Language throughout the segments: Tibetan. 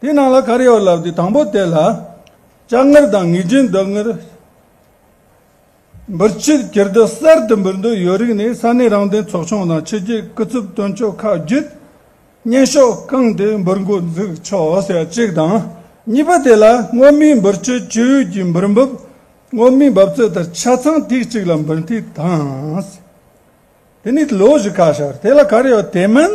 དེའི་ནང་ལ་ཁར་ཡོད་ལབ་དེ་དང་པོ་དེ་ལ་ལྕགས་ངར་དང་ངེས་ཅན་རྡོ་ངར། འབུར་ཕྱིར་གྱེར་རྡོ་གསར་དུ་འབུར་འདོད་ཡོད་རིགས་ནི་ས་གནས་རང་བདེན་ཚོགས་ཆུང་དང་ཕྱི་རྒྱལ་སྐུ་ཚབ་སྟོན་ཕྱོགས་ཁག་བརྒྱུད་བརྙན་ཤོག་བསྐངས་ཏེ་འབུར་འགོ་འཛུགས་ཆོག་ཟེར་གཅིག་དང་གཉིས་པ་དེ་ལ་སྔོན་མའི་འབུར་ཕྱིར་གྱེར་ཡུལ་གྱི་འབུར་འབབ་སྔོན་མའི་འབབ་རྩོད་ལྟར་ཆ་ཚང་ཐིག་གཅིག་ལ་འབུར་ཐིག་དང། དེ་ནི་ལོ་བཞི་ཁ་ཤར་དེ་ལ་ཁར་ཡོད་དེ་མིན།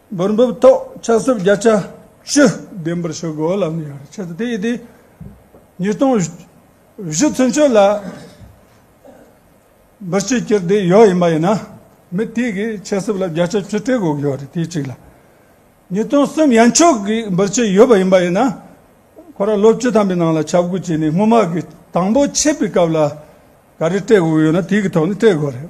སྦུར་འབུབས་ཐོག་ཆ་སྲུབས་བརྒྱ་ཆ་བཅུ་ལྡན་པར་བྱེད་དགོས་ལ་ནུས་ཡོད་ཆེད་དུ་དེ་ཡི་དེ་ཉིས་སྟོང་བཞི་ཚུན་ཆོད་ལ་འབུར་ཆུ་སྐྱེལ་འདི་ཡོད་ཡིན་པ་ཡིན་ན་མི་དེ་གིས་ཆ་སྲུབས་ལ་བརྒྱ་ཆ་བཅུ་སྤྲད་དགོས་ཀྱི་ཡོད་རེད་དེ་གཅིག་ལ། ཉིས་སྟོང་གསུམ་ཡན་ཆོད་ཀྱི་འབུར་ཆུ་ཡོད་པ་ཡིན་པ་ཡིན་ན་ཁོ་རང་ལོ་བཅུ་ཐམ་པའི་ནང་ལ་ཆ་བགོས་བྱས་ནས་སྔོན་མ་གི་དང་པོ་ཆད་པའི་སྐབས་ལ་ག་རེ་སྤྲད་དགོས་ཀྱི་ཡོད་ན་དེ་གི་ཐོག་ནས་སྤྲད་དགོས་རེད།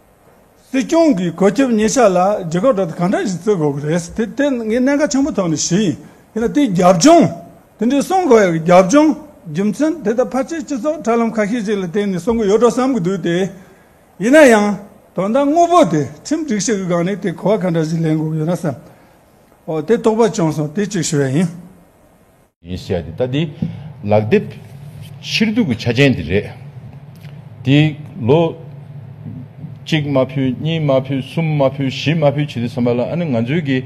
སྲིད་སྐྱོང་གིས་གོ་སྐབས་ཉེ་ཆར་ལ་རྒྱལ་ཁབ་གྲོས་བསྡུར་གང་འདྲ་ཞིག་བརྩི་དགོས་ཀྱི་རེད་དེ་དེ་ངས་གནད་འགག་ཆེན་པོ་ཐོག་ནས་བཞེས་ཡིན་དེ་ལ་དེའི་རྒྱབ་ལྗོངས་དེ་འདྲའི་གསུང་དགོས་ཡག་གི་རྒྱབ་ལྗོངས་རྒྱུ་མཚན་དེ་ད་ཕར་ཆེར་སྤྱི་ཚོགས་དྲ་ལམ་ཁ་ཤས་ཤིག་ལ་བལྟས་ནས་གསུང་གི་ཡོད་འགྲོ་བསམ་གྱི་འདུག་དེ་ཡིན་ན་ཡང་དོན་དག་དངོས་པོ་དེ་ཁྲིམས་སྒྲིག་གཞི་གི་སྒང་ནས་དེ་གོ་བ་གང་འདྲ་ཞིག་ལེན་དགོས་ཀྱི་ཡོད་ན་བསམ་འོ་དེ་དོགས་པ་བྱུང་སོང་དེ་གཅིག་ཞུ་བ་ཡིན། ཡིན་བཤད་དེ་ལྟ་འདི་ལག་དེབ་ཕྱིར་བསྡུ་གི་ཆ་ཅན་དེ་རེད། དེ་ལོ། གཅིག་མ་ཕུལ་གཉིས་མ་ཕུལ་གསུམ་མ་ཕུལ་བཞི་མ་ཕུལ་བྱེད་དུ་བསམ་པ་ལ་ཨ་ནི་ང་ཚོའི་གི།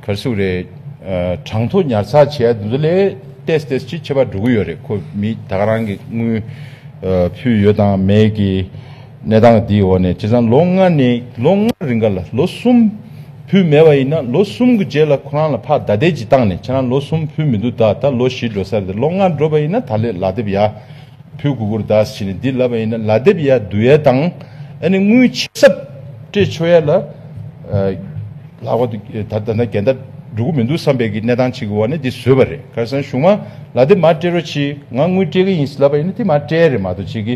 གར་སོགས་རེད། གྲངས་ཐོ་ཉར་ཚགས་བྱས་ཡ་དེ་ཚོ་ལས་ཏེས་ཏེས་ཅིག་ཁྱད་པར་འགྲོ་གི་ཡོད་རེད་ཁོ་མི་ད་ག་རང་གི་དངུལ། ཕུལ་ཡོད་དང་མེད་གི། གནས་སྟངས་འདིའི་འོག་ནས་བྱས་ཙང་ལོ་ལྔ་ནས་ལོ་ལྔ་རིང་ག་ལ་ལོ་གསུམ་ཕུལ་མེད་པ་ཡིན་ན་ལོ་གསུམ་གི་རྗེས་ལ་ཁོ་རང་ལ་ཕག་ཟླ་དལ་གྱིས་བཏང་ནས་ཁྱེད་རང་ལོ་གསུམ་ཕུལ་མི་འདུག་ད་ལྟ་ལོ་བཞི་འགྲོ་ས་རེད་ལོ་ལྔ་འགྲོ་བ་ཡིན་ན་ད་ལོའི་ལག་དེབ་ཡ་ཕུལ་གུ་གུར་དཱས་ཕྱིན་ནས་འདི་ལབ་པ་ཡིན་ན་ལག་དེབ་ཡ་བསྡུ་ཡ་དང་ཨ་ནི་དངུལ་ཆིག་ཟབ་སྤྲད་ཆོག་ཡ་ལ་ལག་པ་དེ་ད་ལྟ་འགལ་ཟླ་འགྲོ་གི་མི་འདུག་བསམ་པའི་གི་གནས་སྟངས་ཆིག་གི་འོག་ནས་འདི་བཟོས་པ་རེད་ཁར་སང་གཞུང་མ་ལག་དེབ་མ་སྤྲད་རོགས་གྱིས་ང་དངུལ་སྤྲད་གི་ཡིན་ཟེར་ལབ་པ་ཡིན་ན་དེ་མ་སྤྲད་རེད་མ་གཏོགས་བྱེད་གི།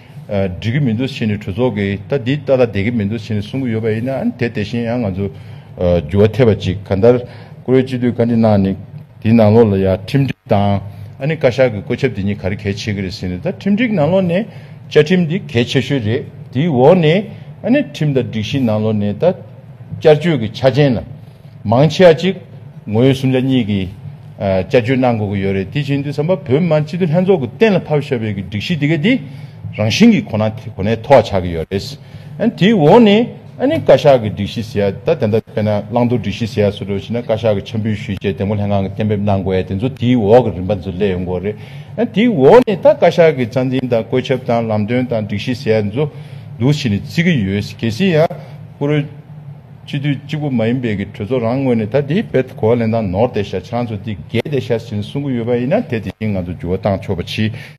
འགྲིག་གི་མི་འདུག་ཕྱི་ནས་གྲོས་ཚོགས་ཀྱིས་ད་འདི་ལྟ་ལ་བསྡད་ཀྱི་མི་འདུག་ཕྱི་ནས་གསུང་གི་ཡོད་པ་ཡིན་ན་དེ་དེ་བཞིན་ཡང་ང་ཚོ་འགྱུར་བ་ཐེབས་པ་ཅིག་ག་འདར་ཀུ་རེ་སྤྱི་འཐུས་བཀའ་འདྲི་གནང་ནི་དེ་ནང་ལོགས་ལ་ཡང་ཁྲིམས་སྒྲིག་དང་ཨ་ནི་བཀའ་ཤག་གི་བཀོད་ཁྱབ་དེ་གཉིས་ག་རེ་གལ་ཆེ་གི་རེད་ཟེར་ནས་ད་ཁྲིམས་སྒྲིག་ནང་ལོགས་ནས་བཅའ་ཁྲིམས་དེ་གལ་ཆེ་ཤོས་རེད་དེའི་འོག་ནས་ཨ་ནི་ཁྲིམས་དང་སྒྲིག་གཞི་ནང་ལོགས་ནས་ད་བསྐྱར་བཅོས་ཀྱི་ཆ་ཅན་ལ། མང་ཆེ་བ་གཅིག་ངོས་སུམ་ཆ་གཉིས་ཀྱི་དཔྱད་བརྗོད་གནང་དགོས་ཀྱི་ཡོད་རེད་དེ་བཞིན་དུ་བསམ་པ་བོད་མི་མང་སྤྱི་འཐུས་ལྷན་ཚོགས་ཀྱི་གཏན་ལ་ཕབ་བཞག་པའི་སྒྲིག་གཞི་དེ་ག་དེ་རང་བཞིན་གྱི་གོ་ན་གོ་ནའི་ཐོག་ཆགས་ཀྱི་ཡོད་རེད། དེའི་འོག་ནས་ཨ་ནི་བཀའ་ཤག་གི་སྒྲིག་གཞི་ཟེར་ཡ་ད་དེ་འདྲ་དཔེར་ན་བླང་དོར་སྒྲིག་གཞི་ཟེར་ཡ་སུ་འགྲོ་བྱས་ན་བཀའ་ཤག་གི་འཆམ་འབུལ་ཞུས་རྗེས་དེ་མགོ་ལྷན་ཁང་གི་གཏན་འབེབས་གནང་དགོས་ཡ་དེ་ཚོ་དེའི་འོག་གི་རིམ་པ་ཚོ་སླེབས་ཡོང་དགོས་རེད། དེའི་འོག་ནས་ད་བཀའ་ཤག་གི་རྩ་འཛིན་དང་བཀོད་ཁྱབ་དང་ལམ་སྟོན་དང་སྒྲིག་གཞི་ཟེར་ཡ་འདི་ཚོ་འདུ་བྱས་ནས་བརྩི་གི་ཡོད། གལ་སྲིད་ཡང་བཀུར། སྤྱི་འཐུས་གཅིག་པུ་མ་ཡིན་པའི་གི་གྲོས་ཚོགས་རང་ངོས་ནས་ད་དེའི་བེད་གོ་བ་ལེན་སྟངས་ནོར་ཏེ་ཤ་ཆང་ཚོ་འདི་འགས་ཏེ་ཤ་ཟིན་གསུང་གི་ཡོད་པ་ཡིན་ན་དེ་དེ་བཞིན་ང་ཚོ་འགྱུར་བ་བཏང་ཆོག་པ་ཕྱིས